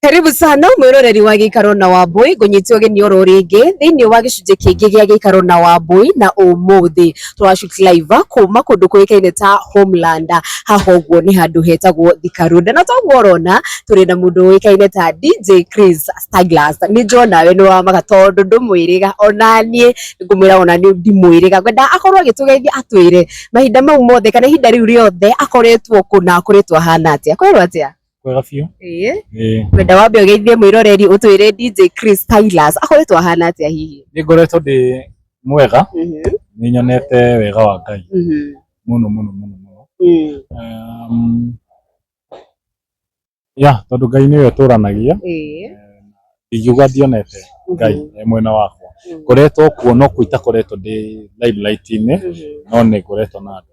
Karibu sana mwiroreri wa gikaro na wambui ngunyitio gini oro ringi thiini wa gicunji kingi gia gikaro na wambui na umuthi turashoot live kuma kundu kuikaine ta homeland haha uguo ni handu hetagwo Thika Road na toguo urona turi na mundu uikaine ta DJ Chris Starglass ni njona we ni wa maga tondu ndumwiriga ona nie ngumwira ona ni ndimwiriga ngwenda akorwo agitugeithia atwire mahinda mau mothe kana ihinda riu riothe akoretwo kuna akoretwo ahana atia kwerwo atia kwega biũ ĩĩ ĩĩ ngwenda wambe ũgeithie mwĩroreri ũtwĩre DJ Chris Tylas akoretwo ahana atĩa hihi nĩ ngoretwo ndĩ mwega nĩ nyonete wega wa ngai mũno mũno mũno mũno Um, ya tondũ ngai nĩwe ũtũranagia ĩĩ ingiuga ndionete ngai e mwena wakwa ngoretwo kuo no kũ itakoretwo ndĩ limelight-inĩ no nĩ ngoretwo na andũ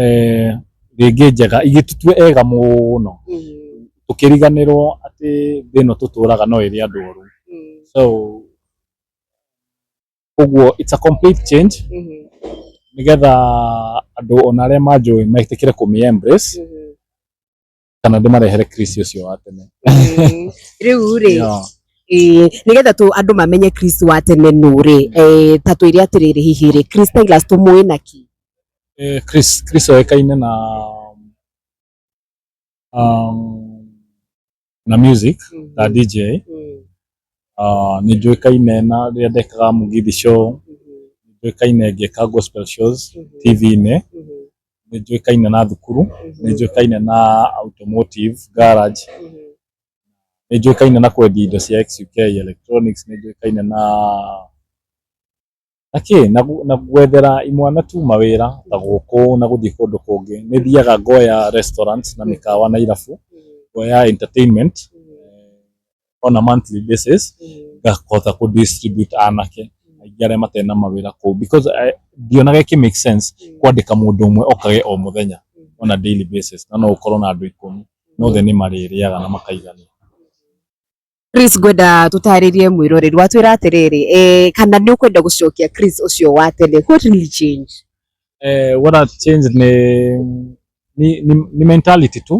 eh, rĩngĩ njega igĩtũtue ega mũno Mm, tũkĩriganĩrwo atĩ thĩ ĩno tũtũraga no ĩrĩ andũ oru mm, so ũguo it's a complete change mhm, nĩgetha andũ ona arĩa manjũĩ metĩkĩre kũmĩ embrace mhm, kana ndĩmarehere Chris ũcio wa tene Eh, rĩu rĩ Yeah. eh, nĩgetha tũ andũ mamenye kristo wa tene nũ rĩ eh, ta twĩre atĩrĩrĩ hihi rĩ kristailas tũmũĩ na ki Eh, Chris Chris oĩkaine na um, na music ta DJ aah nĩ njũĩkaine na rĩrĩa ndekaga Mugithi show, nĩ njũĩkaine ngĩka gospel shows TV-inĩ, nĩ njũĩkaine na thukuru, nĩ njũĩkaine na automotive garage, nĩ njũĩkaine na kwendia indo cia X-UK electronics, nĩ njũĩkaine na... Na kĩ? Na gu- na gwethera imwana tu mawĩra ta gũkũ na gũthiĩ kũndũ kũngĩ. Nĩ thiaga ngoya restaurant na mĩkawa na irabu, ngoya entertainment on a monthly basis, ngahota kũ distribute anake aingĩ arĩa matarĩ na mawĩra kũu because I- ndionaga ĩkĩ make sense kwandĩka mũndũ ũmwe okage o mũthenya on a daily basis na no ũkorwo na andũ ikũmi na othe nĩ marĩrĩaga na makaigania. Chris ngwenda tũtarĩrie mwĩroreri watwĩra atĩrĩrĩ eh, kana nĩ ũkwenda gũcokia Chris ũcio wa tene what really change eh, what has changed ni, ni, ni, ni mentality tu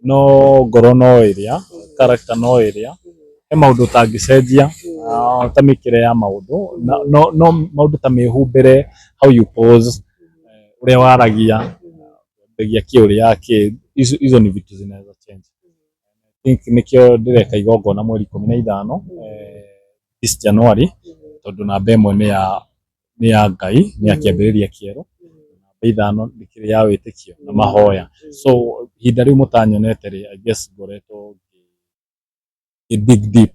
no ngoro no ĩrĩa character no ĩrĩa he maũndũ ũtangĩcenjia ah, ta mĩkĩre ya maũndũ Na- no, no maũndũ ta mĩhumbĩre how you pose eh, ũrĩa waragia mbegia kĩ ũrĩa kĩ icio icio ni vitu zinaweza change I think nĩkĩo ndĩreka igongona mweri ikũmi na ithano this January tondũ namba ĩmwe nĩ ya nĩ ya Ngai, nĩ ya kĩambĩrĩria kĩerũ, namba ithano nĩ ya wĩtĩkio na mahoya. So ihinda rĩu mũtanyonete-rĩ, I guess ngoretwo ngĩ dig deep.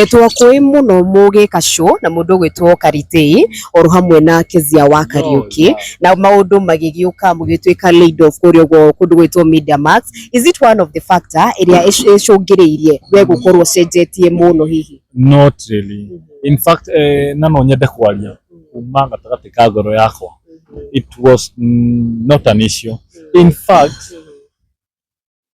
Etwo kwĩ mũno mũgĩ Kacũ na mũndũ ũgwĩtwo Karitĩi oro hamwe na Kezia wa Kariũki na maũndũ magĩgĩũka mũgĩtuĩka laid off kũrĩa ũguo kũndũ gwĩtwo Media Max. Is it one of the factor ĩrĩa ĩcũngĩrĩirie we gũkorwo ũcenjetie mũno hihi? Not really. In fact, eh, na no nyende kwaria kuma gatagatĩ ka ngoro yakwa. It was mm, not an issue. In fact,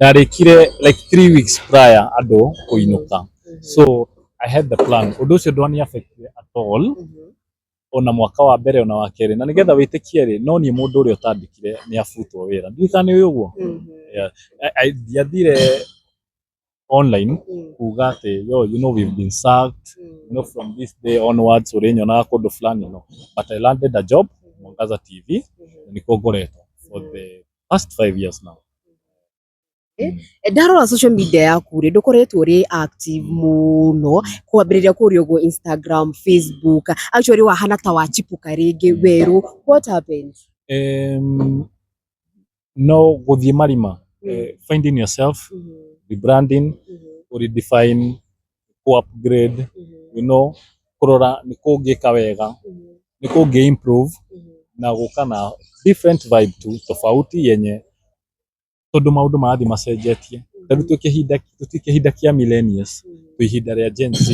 ndarĩkire like three weeks prior andũ kũinũka so i had the plan ũndũ ũcio ndwani affect at all ona mwaka wa mbere ona wa kerĩ na nĩgetha wĩtĩkie rĩ no niĩ mũndũ ũrĩa ũtandĩkire nĩ abutwo wĩra ndiũĩ kana nĩ ũyũ ũguo Yeah. I- I- ndiathire online kuga atĩ yo you know we've been sacked you know from this day onwards ũrĩnyonaga kũndũ fulani no but i landed a job mwangaza tv na nĩkuo ngoretwo for the past five years now Eh, Mm. ndarora social media yaku rĩ ndũkoretwo rĩ active mũno kwambĩrĩria kũria ũguo instagram facebook actually wahana ta wachipuka rĩngĩ Mm. werũ what happened Em, no gũthiĩ marima Mm. eh, finding yourself rebranding Mhm, redefine kũ upgrade, you know, kũrora nĩ kũ ũngĩka wega, nĩ kũ ũngĩ improve na gũka na different vibe tu tofauti yenye tondũ maũndũ marathiĩ macenjetie. Ta rĩu twĩ kĩhinda tũti kĩhinda kĩa millennials, twĩ ihinda rĩa Gen Z.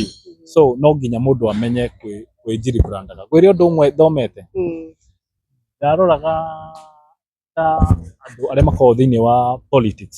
So no nginya mũndũ amenye kwĩ kwĩ Njiri brand. Ngwĩre ũndũ ũmwe thomete, ndaroraga ta andũ arĩa makoragwo thĩiniĩ wa politics,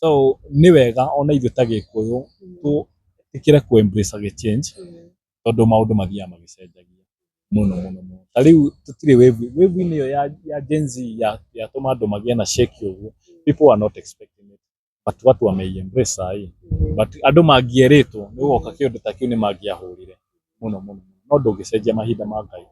so nĩ wega ona ithuĩ ta gĩkũyũ twĩtĩkĩre kũ embrace gĩ change tondũ maũndũ mathiaga magĩcenjagia mũno mũno mũno. Ta rĩu tũtirĩ wave inĩ, wave inĩ ĩyo ya Gen Z yatũma andũ magĩe na shake ũguo people were not expecting it but watu wamei embrace saa hii but andũ mangĩerĩtwo nĩ gũgoka kĩũndũ ta kĩu nĩ mangĩahũrire mũno mũno no ndũngĩcenjia mahinda ma Ngai.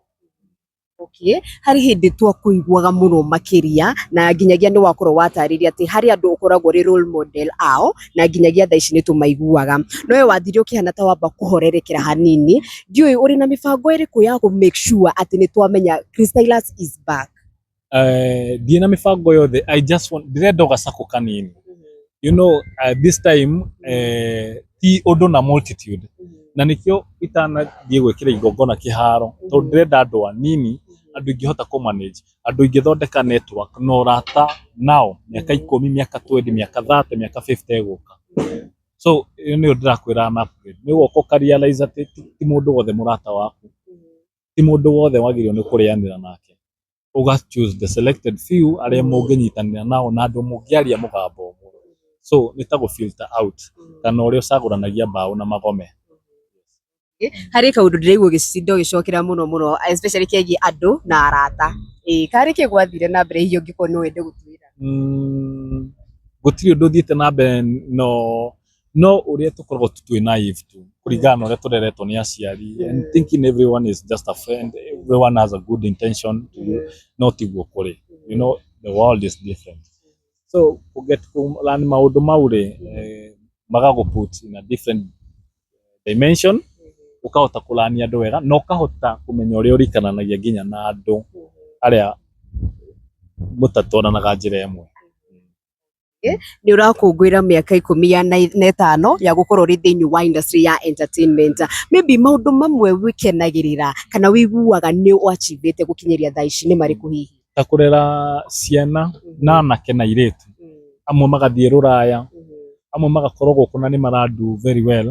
Okay. Harĩ hĩndĩ twakũiguaga mũno makĩria na nginyagia nĩ wakorwo watarĩria atĩ harĩ andũ ũkoragwo ũrĩ role model ao na nginyagia thaa ici nĩ tũmaiguaga. No we wathire ũkĩhana ta wamba kũhorerekera hanini. Ndiũĩ ũrĩ na mĩbango ĩrĩkũ ya kũ make sure atĩ nĩ twamenya Christylus is back? Eh, ndirĩ na mĩbango yothe i just want ndĩrenda o gacakũ kanini you know uh, this time uh, ti ũndũ na multitude na nĩkĩo itanathiĩ gwĩkĩra igongona kĩharo tondũ ndĩrenda andũ anini andũ ingĩhota kũ manage andũ ingĩthondeka network na ũrata nao mĩaka ikũmi mĩaka 20 mĩaka 30 mĩaka 50 ĩgũka so ĩyo nĩyo ndĩrakwĩra na upgrade nĩ woka ũkarealize atĩ ti ti mũndũ wothe mũrata waku ti mũndũ wothe wagĩrĩirwo nĩ kũrĩanĩra nake ũga choose the selected few arĩa mũngĩnyitanĩra nao na andũ mũngĩaria mũgambo ũmwe so nĩ ta gũ filter out kana ũrĩa ũcagũranagia mbaũ na magome harä kaå ndå ndä raigua å gä cinda å gä cokera må no må no especially kegiä andå na arata ä karä kä gwathire na mbere hihi å ngä korwo nä wende gå twä ra Mm, gũtirĩ ũndũ ũthiĩte na mbere no no ũrĩa tũkoragwo twĩ naive tu kũringana na ũrĩa tũreretwo nĩ aciari and thinking everyone is just a friend everyone has a good intention to you no tiguo kũrĩ you know the world is different so to get to learn maũndũ mau rĩ eh, magagũput in a different dimension ũkahota kũrania andũ wega na ũkahota kũmenya ũrĩa ũrikananagia nginya na andũ arĩa mũtatwaranaga njĩra ĩmwe nĩ ũrakũngũĩra mĩaka ikũmi ya na na ĩtano ya gũkorwo ũrĩ thĩinĩ wa industry ya entertainment maybe maũndũ mamwe wĩkenagĩrĩra kana wĩiguaga nĩ wachivĩte gũkinyĩria thaa ici nĩ marĩkũ hihi ta kũrera ciana na anake na airĩtu amwe magathiĩ rũraya amwe magakorwo gũkũ na nĩ mara do very well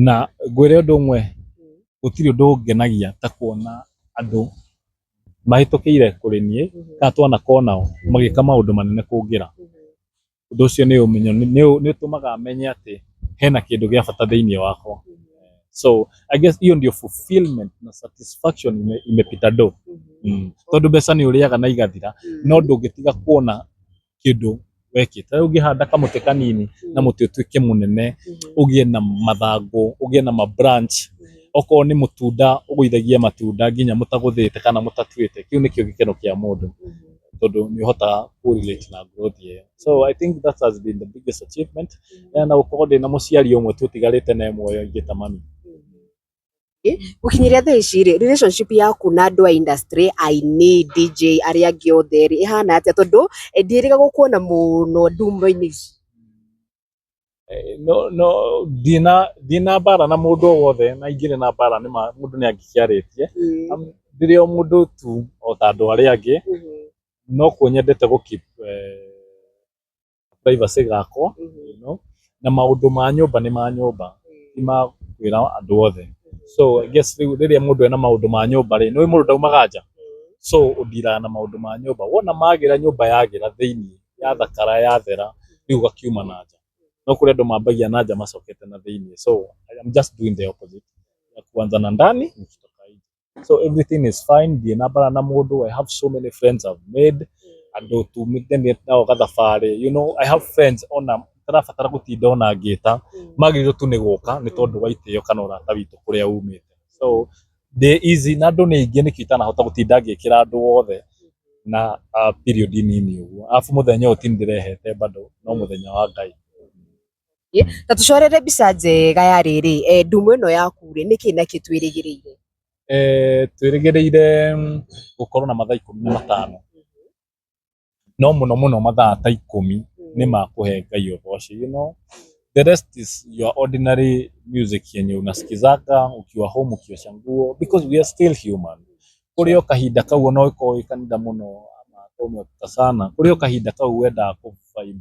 na ngwĩre ũndũ ũmwe gũtirĩ ũndũ ũngenagia ta kuona andũ mahĩtũkĩire kũrĩ niĩ kana twana konao magĩka maũndũ manene kũngĩra ũndũ ũcio nĩ ũmenyo nĩ ũtũmaga menye atĩ hena kĩndũ gĩa bata thĩinĩ wakwa so I guess hiyo ndio fulfillment na satisfaction ime, imepita do mm. tondũ mbeca nĩ ũrĩaga na igathira no ndũngĩtiga kuona kĩndũ wekĩte. Ta rĩu ũngĩhanda kamũtĩ kanini na mũtĩ ũtuĩke mũnene, ũgĩe na mathangũ, ũgĩe na ma branch, okorwo nĩ mũtunda ũgũithagie matunda nginya mũtagũthĩte kana mũtatuĩte, kĩu nĩkĩo gĩkeno kĩa mũndũ tondũ nĩ ũhotaga kũ relate na growth ĩyo. So I think that has been the biggest achievement na gũkorwo ndĩna mũciari ũmwe tu ũtigarĩte naye muoyo ingĩta mami. Gũkinyĩria thaa ici rĩ, relationship yaku na andũ a industry, aini, DJ arĩa angĩ othe rĩ, ĩhana atĩa? Tondũ ndirĩga gũkuona mũno nduma-inĩ ici. No no ndirĩ na ndirĩ na mbara na mũndũ o wothe na ingĩrĩ na mbara nĩ ma mũndũ nĩ angĩkĩarĩtie. Ndĩrĩ o mũndũ tu o ta andũ arĩa angĩ, no kuo nyendete gũ keep privacy gakwa you know na maũndũ ma nyũmba nĩ ma nyũmba ti ma kwĩra andũ othe so I guess rĩu rĩrĩa mũndũ ena maũndũ ma nyũmba rĩ nĩwe mũndũ ndaumaga nja so ũdiraga na maũndũ ma nyũmba wona magĩra nyũmba yagĩra thĩinĩ yathakara yathera rĩu ũgakiuma na nja no kũrĩ andũ mambagia na nja macokete na thĩinĩ so I'm just doing the opposite ya kuanza na ndani nikitoka nje so everything is fine ndirĩ na mbara na mũndũ i have so many friends i've made andũ tumithanĩte nao gathabarĩ you know i have friends ona tarabatara gũtinda ona ngĩta magĩrĩirwo tu nĩ gũka nĩ tondũ wa itĩo kana ũrata witũ kũrĩa umĩte so ndĩ easy na andũ nĩ aingĩ nĩkĩo itanahota gũtinda ngĩkĩra andũ othe na ah, period nini ũguo arabu mũthenya ũyũ ti niĩ ndĩrehete bado no mũthenya wa ngai ta tũcorere mbica njega ya rĩrĩ eh, ndumo ĩno yaku rĩ nĩkĩ nakĩ twĩrĩgĩrĩire eh, twĩrĩgĩrĩire mm, gũkorwo na mathaa ikũmi na matano no mũno mũno mathaa ta ikũmi nĩ ma kũhe ngai ũgoci you know the rest is your ordinary music yenye unasikizaka ukiwa home ukiosha nguo because we are still human kũrĩ o kahinda kau ona ũkorwo wĩ kanitha mũno ama ũmekuta sana kũrĩ o kahinda kau wendaga kũ vibe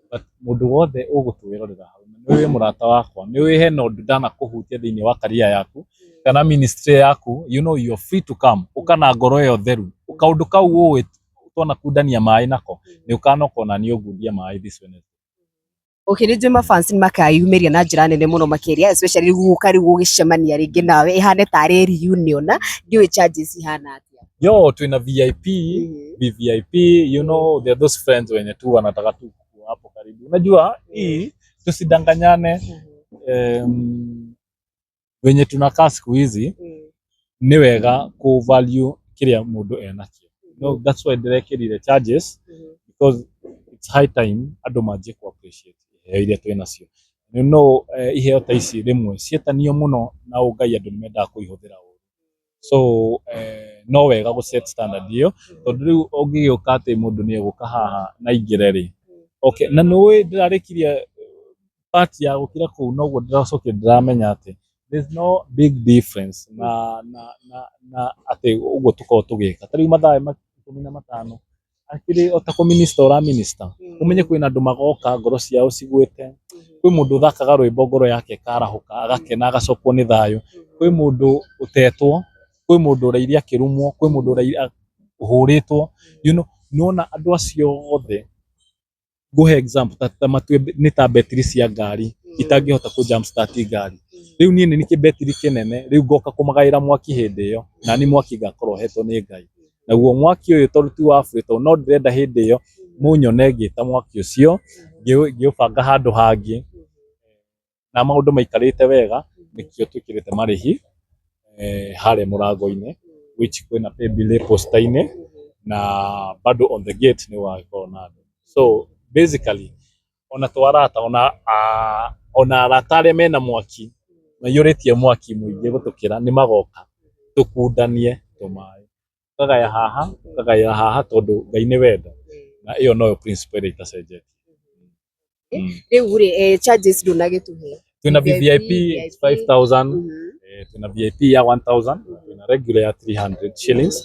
But mũndũ wothe ũgũtwĩrorera hau nĩ wĩ mũrata wakwa nĩ wĩ hena ũndũ ndanakũhutia thĩinĩ wa career yaku kana ministry yaku you know you are free to come ũka na ngoro ĩyo theru kaũndũ kau ũĩ twanakundania maĩ nako nĩ ũkanoka ona niĩ ũngundie maĩ this Wednesday Okay, nĩ njũĩ mafans nĩ makayumĩria na njĩra nene mũno makĩria especially rĩu gũka rĩu gũgĩcemania rĩngĩ nawe ĩhane tarĩ reunion na ndiũĩ charges ihana atĩa. yo tuna vip Mhm. vvip you know there are those friends wenye tu wanataka tu kuwa hapo karibu unajua hii tusidanganyane Mhm. um, wenye tunakaa siku hizi Mm. nĩ wega ku value kĩrĩa mũndũ enakio no, that's why ndĩrekĩrire charges Mhm. because it's high time andũ manjie ku appreciate iheo iria twĩ nacio you know eh, iheo ta ici rĩmwe ciĩtanio mũno na ũngai andũ nĩ mendaga kũihũthĩra ũru so no wega gũ set standard ĩyo tondũ rĩu ũngĩgĩũka atĩ mũndũ nĩ egũka haha na aingĩre rĩ, okay na nĩ ũĩ ndĩrarĩkirie part ya gũkira kũu noguo ndĩracokire ndĩramenya atĩ there's no big difference na na na atĩ ũguo tũkoragwo tũgĩka. Ta rĩu mathaa ikũmi na matano Hakĩrĩ o ta kũ minister ũra minister, ũmenye kwĩna andũ magoka ngoro ciao cigwĩte, kwĩ mũndũ ũthakaga rwĩmbo ngoro yake ĩkarahũka, agakena agacokwo nĩ thayũ, kwĩ mũndũ ũtetwo, kwĩ mũndũ ũraire akĩrumwo, kwĩ mũndũ ũhũrĩtwo, you know, nĩwona andũ acio othe nguhe example ta, ta matue nĩ ta betiri cia ngari itangĩhota kũ jump start ngari rĩu niĩ nĩ kĩ betiri kĩnene rĩu ngoka kũmagaĩra mwaki hĩndĩ ĩyo nani mwaki ngakorwo hetwo nĩ Ngai naguo mwaki ũyũ tondũ ti wa free tondũ no ndĩrenda hĩndĩ ĩyo mũnyone ngĩta mwaki ũcio ngĩũ- ngĩũbanga handũ hangĩ na maũndũ maikarĩte wega nĩkĩo twĩkĩrĩte marĩhi eh, harĩa mũrango-inĩ which kwĩna paybill ĩ posta-inĩ na bado on the gate nĩ wagĩkorwo na andũ so basically ona twarata ona ah, ona arata arĩa mena mwaki maiyũrĩtie mwaki mũingĩ gũtũkĩra nĩ magoka tũkundanie tũmaĩ ũkagaya haha ũkagaya haha tondũ ngai nĩ wenda na ĩyo noyo principle ĩrĩa itacenjetie Mm. rĩu rĩ eh, charges ndũnagĩtũhe twĩna vip VIP, 5000 Mhm. eh, twĩna vip ya 1000 twĩna regular ya 300 shillings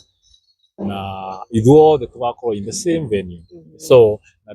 na ithuothe tũgakorwo in the same venue so na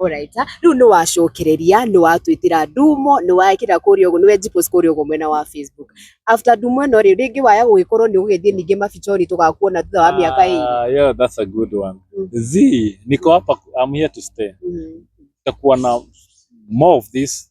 Alright. Rĩu nĩ wacũkĩrĩria, nĩ watwĩtĩra ndumo, nĩ wekĩra kũrĩa ũguo, nĩ wenjipost kũrĩa ũguo mwena wa Facebook. After ndumo ĩno rĩ, rĩngĩ waya gũgĩkorwo nĩ ũgũgĩthiĩ ningĩ mabichori tũgakuona thutha wa mĩaka ĩrĩ. Ah, yeah, that's a good one. Mm. Zii, niko hapa, I'm here to stay. Mm. Tutakuwa na more of this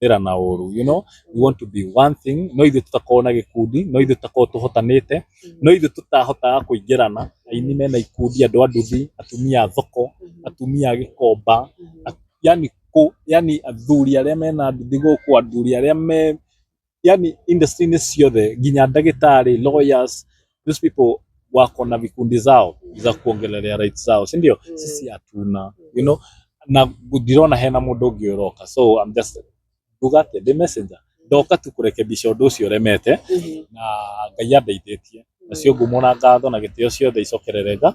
kũhũthĩra na ũru you know we want to be one thing no ithuĩ tũtakorwo na gĩkundi no ithuĩ tũtakorwo tũhotanĩte no ithuĩ tũtahotaga kũingĩrana aini mena ikundi andũ a nduthi atumia a thoko atumia a gĩkomba a- yani kũ yani athuri arĩa mena nduthi gũkũ athuri arĩa me yani industry-inĩ ciothe nginya ndagĩtarĩ lawyers those people wako na vikundi zao za kuongelelea rights zao si ndio Mm. sisi hatuna you know na ndirona hena mundu ungi uroka so I'm just nduga atia ndi messenger ndoka tu kurekebisha undu ucio remete Mhm. na ngai andeithĩtie nacio ngumo na ngatho na gĩtĩo ciothe icokerere nga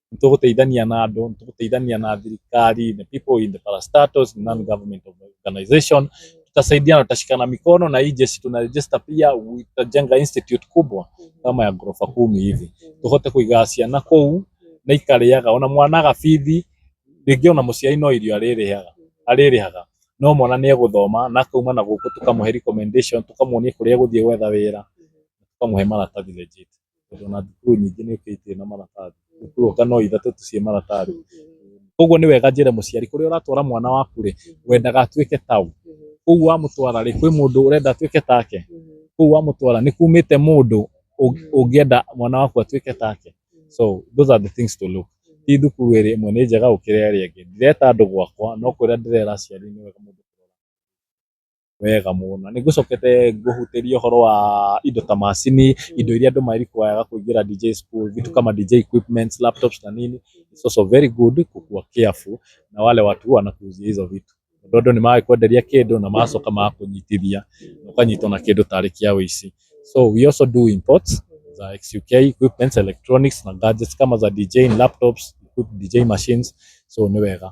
nĩ tũgũteithania na andũ, nĩ tũgũteithania na thirikari, the people in the parastatals, non government organization, tutasaidiana, tutashikana mikono na hii jeshi tuna register pia, tutajenga institute kubwa kama ya ghorofa kumi hivi, tuhote kũiga ciana kũu na ikarĩaga, ona mwana agabithi, rĩngĩ ona mũciari no irio arĩrĩhaga, arĩrĩhaga no mwana nĩ egũthoma na akauma na gũkũ tũkamũhe recommendation, tũkamuonia kũrĩa egũthiĩ gwetha wĩra, tũkamũhe maratathi legit. tondũ ona thukuru nyingĩ nĩ ũkĩ itirĩ na maratathi, thukuru anga no ithatũ tu ciĩ maratathi. Koguo nĩ wega njĩre mũciari kũrĩa ũratwara mwana waku rĩ, wendaga atuĩke ta ũ? Kũu wamũtwara rĩ, kwĩ mũndũ ũrenda atuĩke take? Kũu wamũtwara nĩ kumĩte mũndũ ũngĩenda mwana waku atuĩke take? So those are the things to look. Ti thukuru ĩrĩ ĩmwe nĩ njega gũkĩra ĩrĩa ĩngĩ. Ndireta andũ gwakwa, no kwĩra ndĩrera aciari nĩ wega mũndũ. Wega mũno. Nĩ ngũcokete ngũhutĩrie ũhoro wa indo ta macini, indo iria andũ ma require kũingĩra DJ school, vitu kama DJ equipments, laptops na nini, it's also very good kukuwa careful na wale watu wanakuuzia hizo vitu. Tondũ andũ nĩ magĩkwenderia kĩndũ na magacoka magakũnyitithia, na ũkanyitwo na kĩndũ tarĩ kĩa ũici. So we also do imports za XUK equipments, electronics na gadgets kama za DJing, laptops, good DJ machines, so nĩ wega.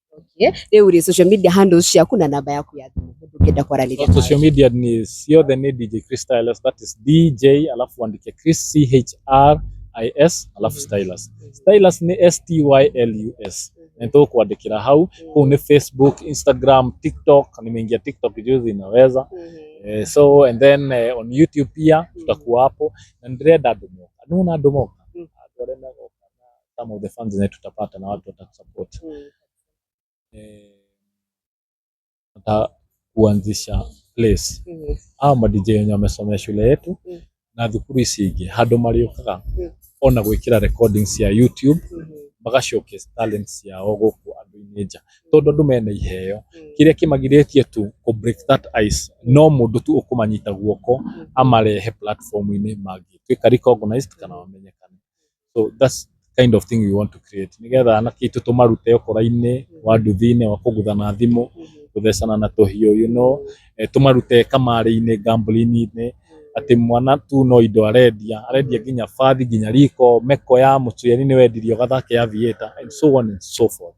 Okay. Rĩu rĩ social media handles ciaku na namba yaku ya thimũ mũndũ ũngĩenda kwaranĩria nawe. social media ni ciothe ni dj chris stylus that is dj alafu andike chris chris alafu stylus stylus ni stylus na nitũkwandĩkĩra hau kũu ni facebook instagram tiktok nimeingia tiktok juzi inaweza Mhm. eh, so and then eh, on youtube pia tutakuwa hapo na ndirenda andũ moka nuna andũ moka Mhm. andũ arĩa megoka na some of the funds zenye tutapata na watu watatusupport Mm. eh, hata kuanzisha place Mhm. aa madj wenye wamesomea shule yetu Mm. na thukuru ici ingĩ handũ marĩũkaga Mm. ona gwĩkĩra recordings cia youtube Mhm. maga showcase talent ciao gũkũ andũ-inĩ nja tondũ andũ mena iheo Mm. kĩrĩa kĩmagirĩtie tu kũ break that ice no mũndũ tu ũkũmanyita guoko amarehe platform-inĩ mangĩtuĩka recognized kana wamenyekana so that's the kind of thing we want to create nĩgetha anake aitũ tũmarute ũkora-inĩ wa nduthi-inĩ wa kũgutha na thimũ gũthecana na tũhiũ you know eh, tũmarute kamarĩ-inĩ gambling-inĩ atĩ mwana tu no indo arendia arendia nginya bathi nginya riko meko ya mũciari nĩ wendirie ũgathake ya vieta and so on and so forth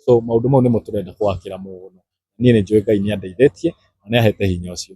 so maũndũ mau nĩmo tũrenda kwakĩra mũno niĩ nĩ njũĩ ngai nĩ andeithĩtie na nĩ ahete hinya ũcio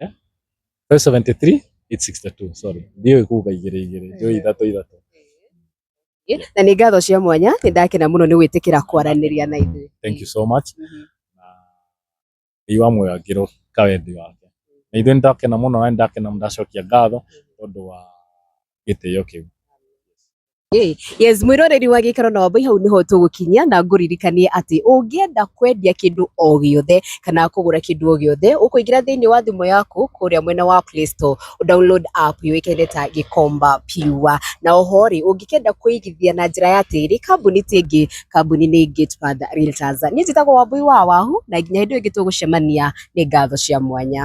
Eh? 573 862 sorry ndiyo ikuga igiri igiri ndio ithatu ithatu na nä ngatho cia mwanya nä ndakena må no nä gwä tä kä ra kwaranä ria na ithuä thank you so much na ngai wa muoyo angirwo kawendi wake na ithuĩ nĩndakena mũno na nĩndakena ndacokia ngatho tondũ wa gĩtĩo kĩu. Ĩ, yes mwĩroreri wa gĩikaro na wambai hau nĩho tũgũkinyia na ngũririkanie atĩ ũngĩenda kwendia kĩndũ o gĩothe kana kũgũra kĩndũ o gĩothe ũkũingĩra thĩinĩ wa thimũ yaku kũrĩa mwena wa Play Store download app yũĩkaine ta Gĩkomba Pure na oho rĩ ũngĩkenda kũigithia na njĩra ya tĩri kambuni ti ĩngĩ kambuni nĩ Gatepath Realtors niĩ njĩtagwo Wambui wa Wahu na nginya hĩndĩ ĩyo ĩngĩ tũgũcemania nĩ ngatho cia mwanya.